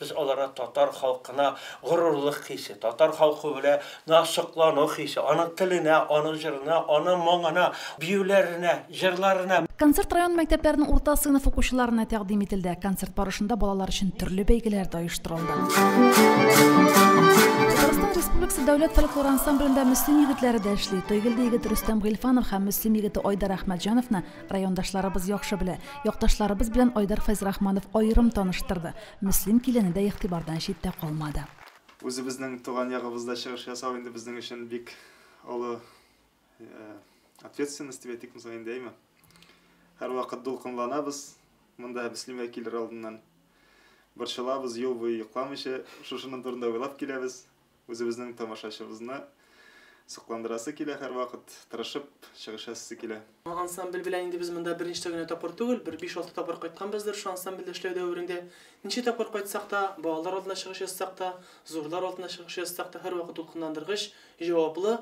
Без аларга татар халкына горурлык хисе, татар халкы белә на соклану хисе, аның теленә, аның җырына, аның моңына, биюләренә, җырларына. Концерт район мәктәпләренең урта сыйныф укучыларына тәкъдим ителде. Концерт барышында балалар өчен төрле бәйгеләр дә оештырылды. Татарстан Республикасы дәүләт фольклор ансамблендә Мөслим егетләре дә эшли. Тойгелде егет Рөстәм Гыйльфанов һәм Мөслим егете Айдар Әхмәтҗановны Райондашларыбыз яхшы белә. Якташларыбыз белән Айдар Фәйзрахманов аерым таныштырды. Мөслим килене дә игътибардан читтә калмады. Үзебезнең туган ягыбызда чыгыш ясау инде безнең өчен бик олы ответственность дип әйтикме соң инде, әйме? Һәрвакыт дулкынланабыз, монда Мөслимгә килер алдыннан. Борчылабыз, юл буе йокламыйча шушының турында уйлап киләбез. Үзебезнең тамашачыбызны сокландырасы килә һәрвакыт, тырышып чыгыш ясыйсы килә. Ансамбль белән инде без монда беренче генә тапкыр түгел, бер биш-алты тапкыр кайтканбыздыр шул ансамбльдә эшләү дәверендә. Ничә тапкыр кайтсак та, балалар алдында чыгыш ясасак та, зурлар алдында чыгыш ясасак та, һәрвакыт ул кызгандыргыч, җаваплы,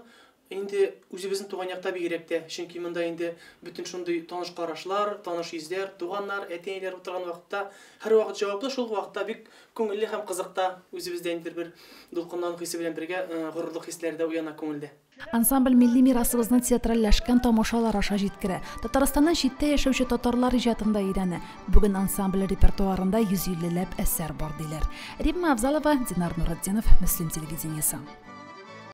Инде үзебезнең туган якта бигрәк тә, чөнки монда инде бөтен шундый таныш карашлар, таныш йөзләр, туганнар, әти-әниләр утырган вакытта һәрвакыт җаваплы, шул ук вакытта бик күңелле һәм кызык та, үзебездә ниндидер бер дулкынлану хисе белән бергә горурлык хисләре дә уяна күңелдә. Ансамбль милли мирасыбызны театральләшкән тамашалар аша җиткерә, Татарстаннан читтә яшәүче татарлар иҗатын да өйрәнә. Бүген ансамбль репертуарында 150 ләп әсәр бар, диләр. Римма Авзалова, Динар Нуретдинов, Мөслим телевидениесе.